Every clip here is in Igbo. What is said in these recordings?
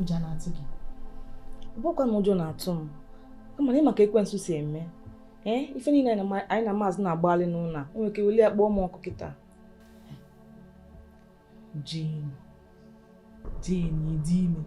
ụjọ na-atụ gị bụkwanụ ụjọ na-atụ m kama na ị ma ka ekwensu si eme ee ife niile anyị na maazị na-agbalị n'ụlọ a o nwere ike weli ya kpọọ m ọkụ kịta Jane, Jane, ị dị ime.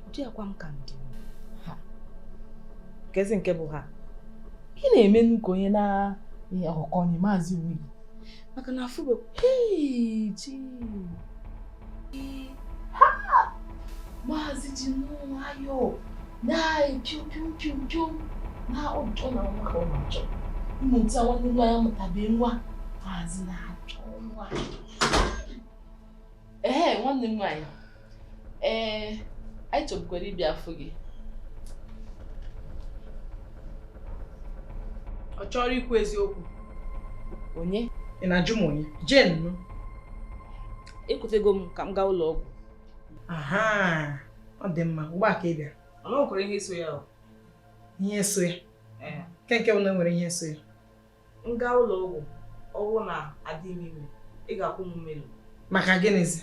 Ụdị akwa m ka m dị ime. Ha. Kezi nke bụ ha. Ị na-eme nnọọ ka onye na-aghọkọ onye maazị onwe gị. Maka na afụ bụ, hei, Jane. Ha! Maazị ji nnọọ nwayọọ na-epiu piu piu piu na ụjọ na nwa ka ọ na-achọ. Mmụta nwanne m nwaanyị mụtabe nwa. Maazị na-achọ nwa. ee nwanne m nwaanyị ee anyị chọbukwara ịbịa afụ gị ọ chọrọ ikwu eziokwu onye ị na-ajụ m onye jen nụ ekwetego m ka m gaa ụlọ ọgwụ aha ọ dị mma ugbu a ka ị bịara ọ nwekwara ihe so ya o ihe so ya ke nke bụ na o nwere ihe so ya m gaa ụlọ ọgwụ ọ bụrụ na adị m ime ị ga-akwụ m mmerụ maka gịnịzi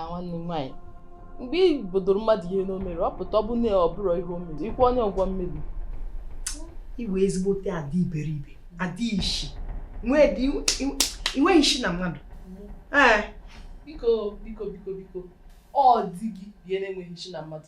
nwanne m nwaanyị mgbe ị bodoro mmadụ ihe na o mere ọ pụta ọ bụ na ọ bụrọ ihe o mere ị kwụọ onye ụgwọ mmerụ iwe ezigbote adị iberibe adị ishi i nweghị ishi na mmadụ biko biko biko biko ọ di gị bụ ihe na-enweghị ishi na mmadụ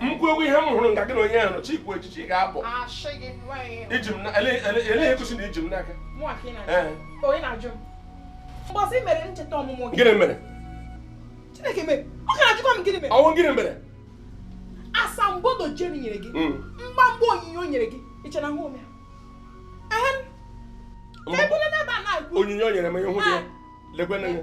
m kwuo okwu ihe m hụrụ nga gị na onye ahụ chi ikwu echichi ga-abụ i ji m ele egosi na i ji m n'aka gịnị mere ọ wụ gịnị mere asambodo jeri nyere gị hmm. mgbamgba onyinye o nyere gị i che na ahụrọ m onyinye o nyere m ihe hụ gị lekwe n'anya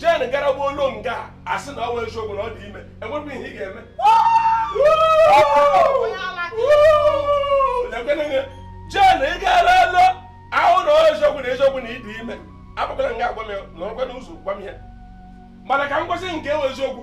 jen gara gbuo olu nga a sị na ọ wụ eziokwu na ọ dị ime enwebụ ihe ị ga-eme jen ị gara elu ahụ na eziokwu na eziokwu na ị dị ime abụkwala nga agwa m na ọkwa n'ụzọ gwa m ya mana ka m gosi nke wụ eziokwu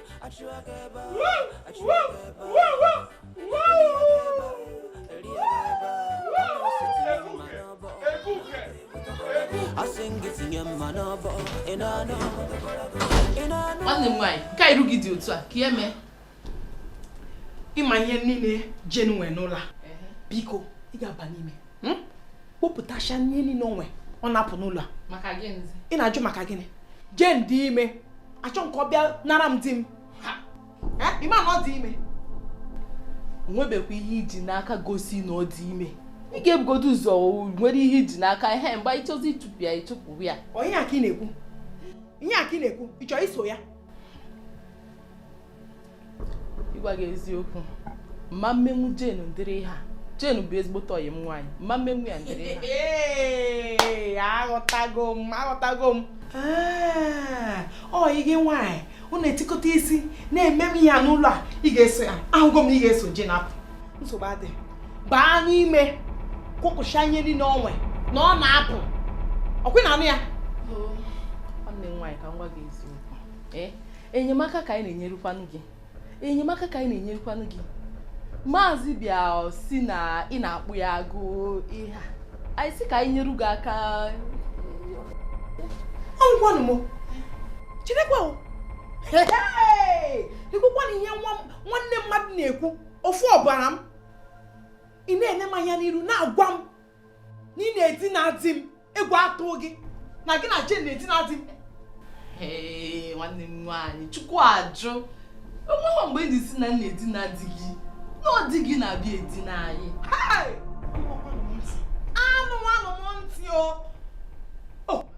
nwanne m nwaanyị nke iru gị dị otu a ke ihe mee ị ma ihe niile jen nwee n'ụlọ a biko ị ga-aba n'ime hmm? kpopụtacha ihe niile o nwe ọ na-apụ n'ụlọ a ị na-ajụ maka gịnị Jane dị ime achọ m ka ọ bịa nara m di m ị ma na ọ dị ime o nwebekwa ihe i ji n'aka gosi na ọ dị ime ị ga-ebugodo ụzọ nwere ihe i ji n'aka ihe mgbe ị chọzi ịtụpụ ya ị tụpụ ya ọ ihe a ka ị na-ekwu ihe a ka ị na-ekwu ị chọrọ iso ya ịgwa gị eziokwu m ma emenwu Jane ụdịrị ihe a Jane bụ ezigbote ọyị m nwaanyị m ma emenwu ya ụdịrị ihe a aghọtago m aghọtago m ọyị gị nwaanyị unu etikọta isi na-eme m ya n'ụlọ a ị ga-eso ya ahụgo m na ị ga-eso Jane apụ nsogbu adị baa n'ime kwụpụcha ihe niile o nwe na ọ na-apụ ọ kwa ị na-anụ ya nwanne m nwaanyị ka m gwa gị eziokwu enyemaka ka anyị na-enyerukwanụ gị enyemaka ka anyị na-enyerukwanụ gị maazị bịa sị na ị na-akpụ ya agụụ ihe anyị sị ka anyị nyeru gị aka ọgwanụ m cherekwa i kwukwana ihe nwanne mmadụ na-ekwu ofu ọbara m ị na-ene m anya n'iru na-agwa m na ị na-edina di m egwu atụ gị na gị na Jane na-edina di m nwanne m nwaanyị chukwu ajụ o nweghị mgbe anyị sị na anyị na-edina di gị na ọ di gị na-abịa edina anyị anụ anụ m ntị o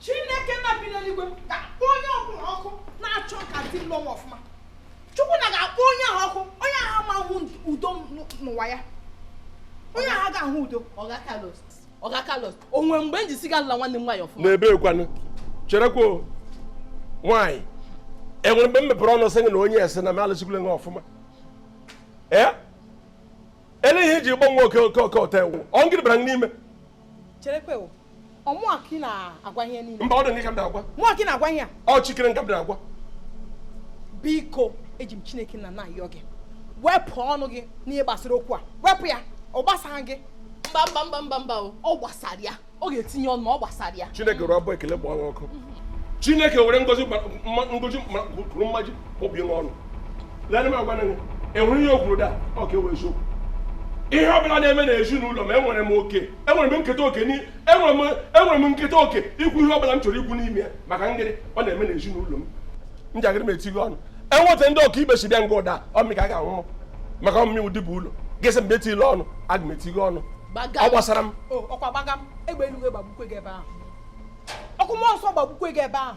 chineke nna bi n'eluigwe ga-akpọ onye ọbụla ọkụ na-achọ ka di m lụọ ọfụma chukwu nna ga-akpọ onye ahụ ọkụ onye ahụ ama ahụ udo n'ụwa ya onye ahụ ga-ahụ udo ọga Carlos ọga Carlos o nwe mgbe m ji sị gị alala nwanne m nwaanyị ọfụma n'ebee kwanụ cherekwa nwaanyị e nwere mgbe m mepere ọnụ sị gị na onye sị na m alụsikwule gị ọfụma ee ele ihe i ji gbanwe oke oke oke ọta ewu ọ ngịrị bara n'ime mba ọ dị ka m na-agwa ọ Chikere nga m na-agwa biko eji m chineke nna na-ayọ gị wepụ ọnụ gị n'ihe gbasara okwu a wepụ ya ọ gbasaghị gị mba mba mba mba mba ọ gbasara ya ọ ga-etinye ọnụ ma ọ gbasara ya chineke rụọ abụ ekele gbawa ọkụ chineke were ngozi ngozi kwuru mmaji kpọbie n'ọnụ lee m agwa gị e nwere ihe o kwuru da ọ ka ewe eziokwu ihe ọ bụla na-eme na ezinụlọ m enwere m oke enwere m nketa oke enwere m nketa oke ikwu ihe ọ bụla m chọrọ ikwu n'ime ya maka ngịrị ọ na-eme na ezinụlọ m njakịrị m etighị ọnụ enweta ndị ọkaibe si bịa nga ụda ọmị ka a ga-anwụ maka ọmụmị ụdị bụ ụlọ gịsị mgbe etile ọnụ aga m etighe ọnụ ọ gbasara m ọkwa gbaga m egbe eluigwe gbagbukwe gị ebe ahụ ọkụ mmụọ nsọ gbagbukwe gị ebe ahụ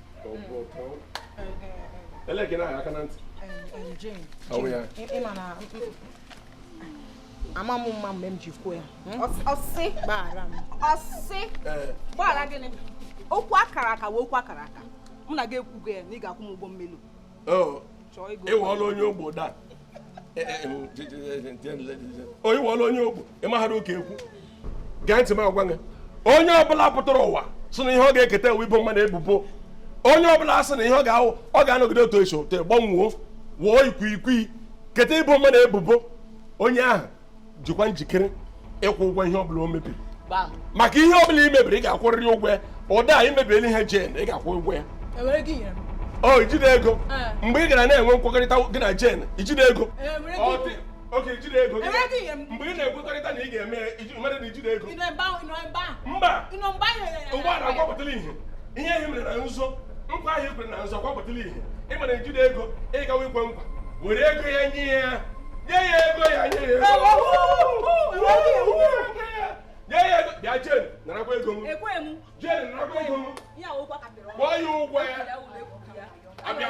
Ele gị na-anya aka na ntị. Ama m mma mgbe m ji kwuo ya. Hmm? Ọsị. Gbaghara m. Ọsị. Eh. Gbaghara gịnị? Okwu akara aka wụ okwu akara aka. Mụ na gị ekwugo ya na ị ga-akwụ m ụgwọ mmelu. Oh. Ị wụọla onye ogbu daa. onye wụọla onye ogbu ị maghara oke ekwu gee ntị m agwa gị onye ọbụla pụtara ụwa sị na ihe ọ ga-eketa wụ ibo mmadụ ebubo onye ọbụla sị na ihe ọ ga-awụ ọ ga-anọgide otu esi ote gbanwoo wụọ ikwikwi keta ibo mmadụ ebubo onye ahụ jikwa njikere ịkwụ ụgwọ ihe ọbụla o mebiri maka ihe ọbụla i mebiri ị ga-akwụrịrị ụgwọ ya ụda a i mebiela ihe jen ị ga-akwụ ụgwọ ya e o ijide ego e. mgbe ị gara na-enwe nkwekọrịta gị na jen ijide ego e, oge ijide ego mgbe ị na-ekwekọrịta na ị ga-eme mere na ijide ego mba ugbu a akwapụtala ihe ihe ahụ i mere na nzo nkwa ahụ i kwere na nzo akwapụtala ihe ị mara ejide ego ị gawa ikwe nkwa were ego ya nye ya nye ya ego ya nye ya ego nye ya ego bịa jen narakwa ego m jen narakwa ego m kwụọ ya ụgwọ ya abịa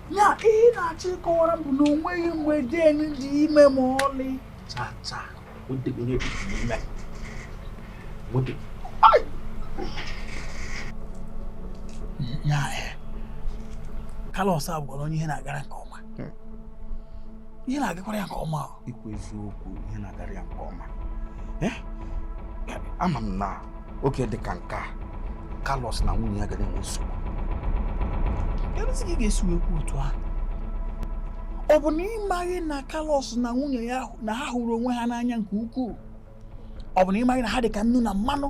ya ihe ị na-achọ ịkọwara m bụ na onweghị mgbe jen dị ime ma ọlị ya eh, Carlos a bụkwanụ onye ihe na-agara nke ọma ihe na-agakwara ya nke ọma i kwu eziokwu ihe na-agara ya nke ọma eh? ama m na oge dị ka nke a Carlos na nwunye ya gara enwe nsogbu kedụzi ka ị ga-esi wee kwuo otu ahụ ọ bụ na ị maghị na Carlos na nwunye ya na ha hụrụ onwe ha n'anya nke ukwuu ọ bụ na ị maghị na ha dị ka nnu na mmanụ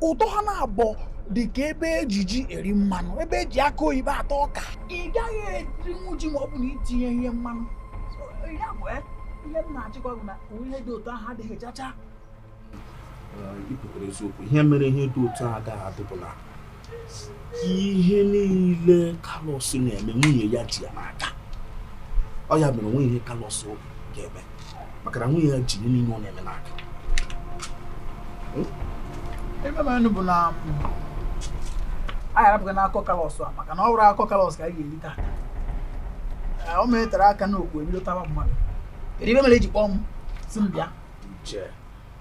ụtọ ha naabọ dị ka ebe eji ji eri mmanụ ebe eji akụ oyibo ata ọka ị gaghị erinwu ji ma ọ bụ na i tinyeghị mmanụ ya bụ eh, ihe m na-achọ ikwu bụ na ihe dị otu ahụ adịghị chacha ihe mere ihe dị otu ahụ agaghị adị bụ na ihe niile Carlos na-eme nwunye ya ji ya n'aka ọ ya mere onweghị ihe Carlos ga-eme maka na nwunye ya ji ihe niile ọ na-eme n'aka ive m ma bụ na anyị arapụghị n'akọ Carlos a maka na ọ bụrụ akọ Carlos ka anyị ga-eri taa o metara aka n'ụkwụ ebido tawa mmadụ kedu ive mere eji kpọọ m sị m bịa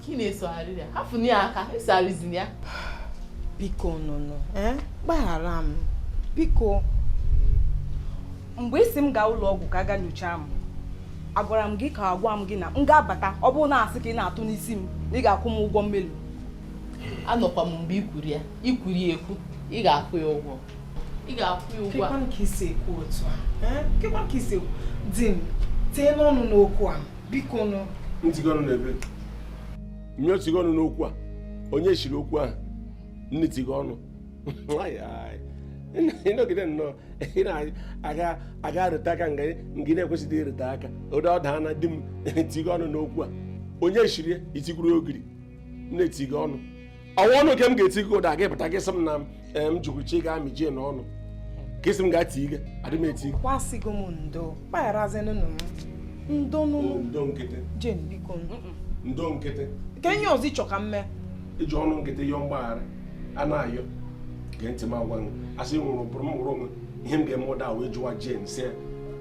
ka ị na-esogharị ya hafụnụ ya aka esogharịzina ya biko nụnụ eh? gbaghara m biko mgbe ị sị m gaa ụlọ ọgwụ ka a ga nyochaa m agwara m gị ka agwa m gị na m ga-abata ọ bụrụ na asị ka ị na-atụ n'isi m na ị ga-akwụ m ụgwọ mmelụ anọkwa m mgbe i kwuru ya i kwuru ya ekwu ị ga-akwụ ya ụgwọ ị ga-akwụ ya ụgwọ a ka i si ekwu otu a eh? ka i si ekwu di m tinye ọnụ n'okwu a biko nụ tigo ọnụ n'ebe mmiri otigo ọnụ n'okwu a onye siri okwu ahụ nne tigo ọnụ ị nọgide nnọọ ị na-aga aga arụta aka nga ngị na-ekwesịghị ịrụta aka ụdị ọda na di m tigo ọnụ n'okwu a onye siri itikwuru ogiri nne tigo ọnụ ọwa ọnụ nke m ga-eti gị ụda gị pụta gị sị m na m jụrụ chi ga amị jen ọnụ ka ị sị m ga tii gị adị m eti gị kwa asịgo m ndo gbagharazinụ m ndo ndo nkịtị jen biko ndo nkịtị kee ihe ọzọ ị chọ ka m mee i ji ọnụ nkịtị yọọ mgbaghara a na-ayọ gee ntị m agwa gị a sị nwụrụ bụrụ m nwụrụ o nwe ihe m ga-eme ụda wee jụwa jen si ya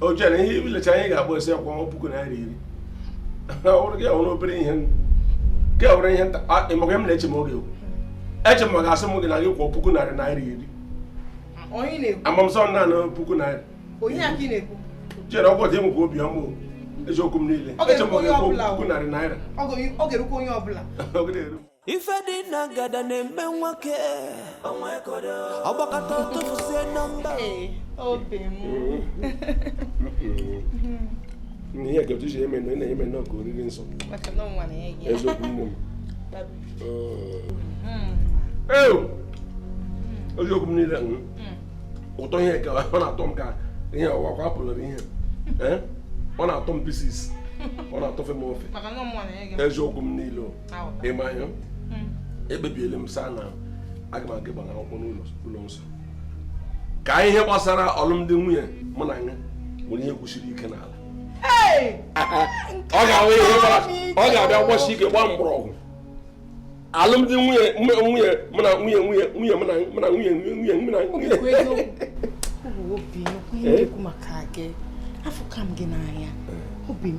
o chere ihe ibilecha anyị ga-akpọ esi akwụ ọnwa puku naira iri ọrụ gị ọrụ obere ihe gị ọrụ ihe nta ị ma ka m na-eche m oge eche m ga-asị m gị na gị kwụọ puku narị naira iri amamsọ nna na puku naira chere ọgwụ dị enwekwa obi ọma eziokwu m niile eche m gị kwụọ puku narị naira ife dị na ngada na-eme nwoke ọ gbakọta tụfusie na mba obi m ihe ka otu si eme na eme nnọọ ka oriri nsọ eziokwu nne m eziokwu m niile ụtọ ihe ka ọ na-atọ m ka ihe ọwa kwa apụlụrụ ihe ọ na-atọ m pieces ọ na-atọfe m ofe eziokwu m niile ịma ya hmm. ekpebiela m sir na aga m aga ịgbara akwụkwọ n'ụlọ nsọ ka ihe gbasara ọlụmdi nwunye mụ na ya nwere ihe kwụsiri ike n'ala ọ ga-abịa gbasi ike gbaa mgbọrọgwụ alụmdi nwunye mụ na nwunye obi m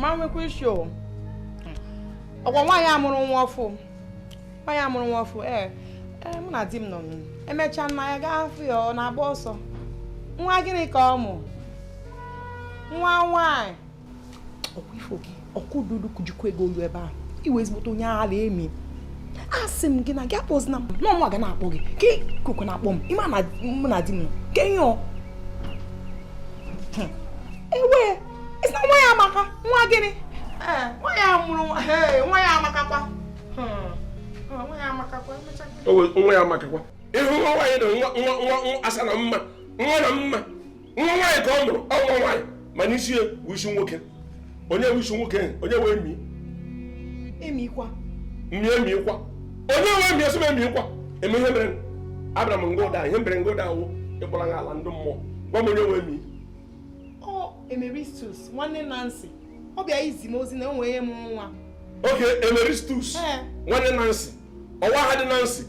ma nwekwa isi o ọkwa nwaanyị mụrụ nwa ọfụ nwaanyị mụrụ nwa ọfụ ee ee mụ na di m nọ emechaa nna ya gaa afụ ya ọ na-agba ọsọ nwa gịnị ka ọ mụ nwa nwaanyị ọkwa ifo gị ọkụ dudu kujikwa gị olu ebe ahụ ị wụ ezigbote onye ala emi asị m gị na gị akpọzina m na ọ mụnwa ga na-akpọ gị ka ikuku na-akpọ m ị ma na mụ na di m ka ihe ọ ewe isi na nwa ya amaka nwa gịnị nwa ya mụrụ nwa ya amakakwa nwa ya amakakwa nwa ya amakakwa ịhụ nwa nwaanyị na nwa nwa nwa asa na mma nwa na mma nwa nwaanyị ka ọ mụrụ ọ nwa nwaanyị ma n'isi ya wụ isi nwoke onye wụ isi nwoke onye wụ emi emikwa emi emikwa onye wụ emi esi m emikwa eme ihe mere abraham nga ụda ihe mere nga ụda awụ ịkpọrọ ha ala ndị mmụọ gwa m onye wụ emi ọ emeristus nwanne nancy ọ bịa izi m ozi na nwunye ya mụrụ nwa oke emeristus nwanne nancy ọ wụ aha di nansi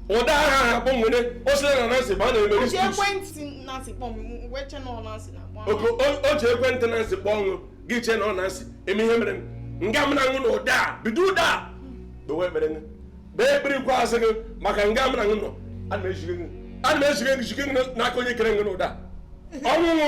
ụda aha ha kpọnwere osila na nansi ba na-eme o ji ekwentị nansi kpọọ ọṅụ gị chee na ọ nansi eme ihe mere nga m na-aṅụ na ụda a bido ụda a gbewe ekpere gị bee ekpere ikwe azụ gị maka nga m na-aṅụ nọ ana m ejige gị n'aka onye kere gị na ụda ọnwụnwụ